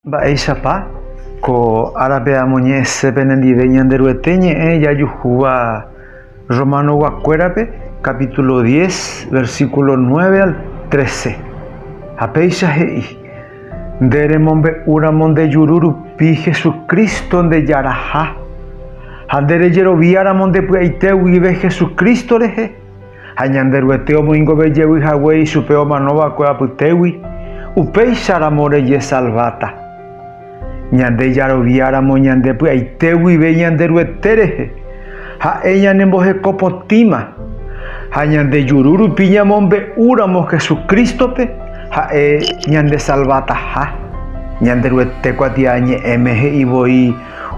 Mba'éichapa ko árape amoñe'ẽse penendive Ñanderuete ñe'ẽ jajuhúva Romanoguakuérape capítulo 10, versículo 9 al 13. Ha péicha he'i, Nde remombe'úramo nde juru rupi Jesucristo ndejaraha, ha nde rejeroviáramo nde py'aite guive Jesucristo rehe, Ha Ñanderuete omoingove jevy hague ichupe omanova'ekue apytégui, upéicharamo rejesalváta. Ñande jaroviáramo ñande py'aite guive Ñanderuete rehe, ha'e ñanemboheko potĩma. Ha ñande juru rupi ñamombe'úramo Jesucrístope, ha'e ñandesalvataha. Ñanderuete kuatiañe'ẽme he'i voi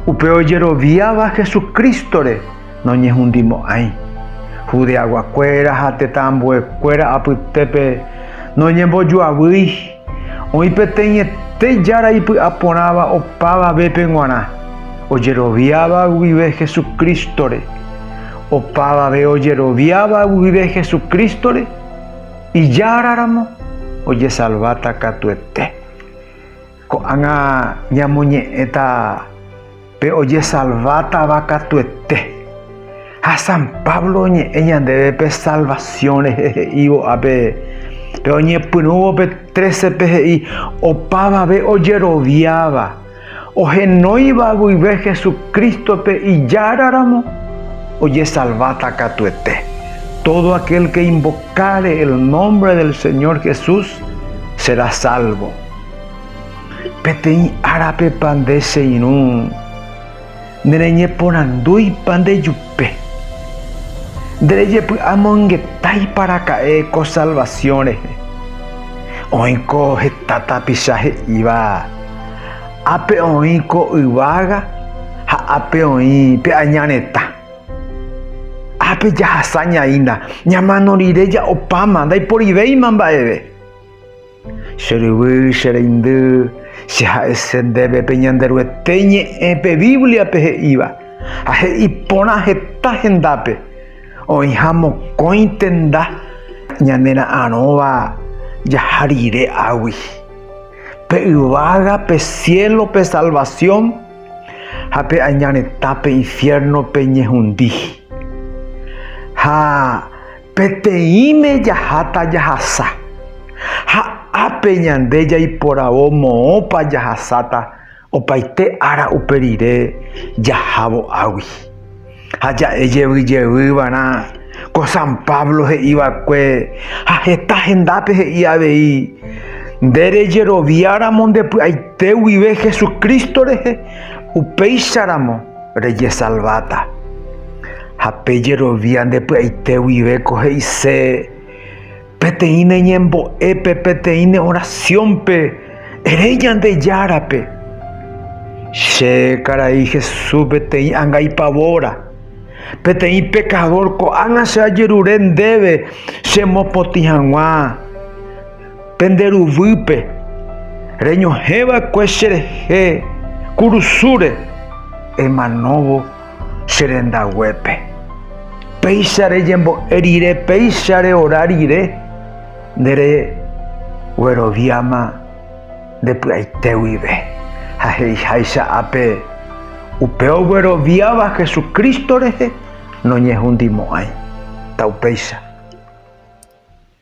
upe ojeroviáva Jesucrístore noñehundimo'ãi, Judeaguakuéra ha tetãambuekuéra apytépe noñembojoavýi, oĩ peteĩete Jára ipy'aporãva opavavépe g̃uarã, ojeroviáva guive Hesu Crístore. Opavave ojeroviáva guive Hesu Crístore, Ijáraramo ojesalváta katuete. Ko'ág̃a ñamoñe'ẽta pe ojesalvátava katuete. Ha san Pablo oñe'ẽ ñandéve pe salvasión rehe he'ívo ápe, pe oñepyrũvo pe 13-pe he'i, Opavave ojeroviáva, ohenóiva guive Jesucrístope Ijáraramo, ojesalváta katuete. Tódo akel ke invokare el nómbre del Señor Jesús, sera sálvo. Peteĩ árapepa nde che irũ, nereñeporandúipa ndejupe? Nderejepy'amongetáipa araka'e ko salvasiõ rehe? Oĩko heta tapicha he'íva, Ápe oĩ ko yvága ha ápe oĩ pe aña retã. Ápe jahasa ñaína, ñamano rire ja'opáma, ndaiporivéima mba'eve. Che ryvy, che reindy, che ha'ese ndéve pe Ñanderuete ñe'ẽ pe Bíbliape he'íva, ha he'i porã heta hendápe, oĩha mokõi tenda ñanera'arõva jaha rire águi. Pe yvága pe siélope salvasión ha pe aña retã pe infiérnope ñehundi. Ha. Peteĩme jaháta jahasa. Ha ápe ñande jaiporavo moõpa jahasáta opaite ára upe rire jahávo águi. Ha ja'e jevy jevy va'erã ko San Pablo he'i va'ekue ha heta hendápe he'i avei, Nde rejerovia ramo nde py'aite guive Jesucristo rehe, upéicha ramo. rejesalváta. Ha pe jerovia nde py'aite guive ko he'ise peteĩ ne ñembo'épe, peteĩ ne orasiónpe, ere Ñandejárape, Che karai Jesús peteĩ anga ipavóra, peteĩ pekadór ko'ág̃a che ajerure ndéve chemopotĩ hag̃ua. Pende ruvýpe, reñohẽ va'ekue che rehe kurusúre, emanóvo che rendaguépe. Péicha rejembo'e rire, péicha reora rire, nde regueroviáma nde py'aite guive. Ha he'iháicha ápe, upe ogueroviáva Jesucristo rehe noñehundimo'ãi. Taupéicha.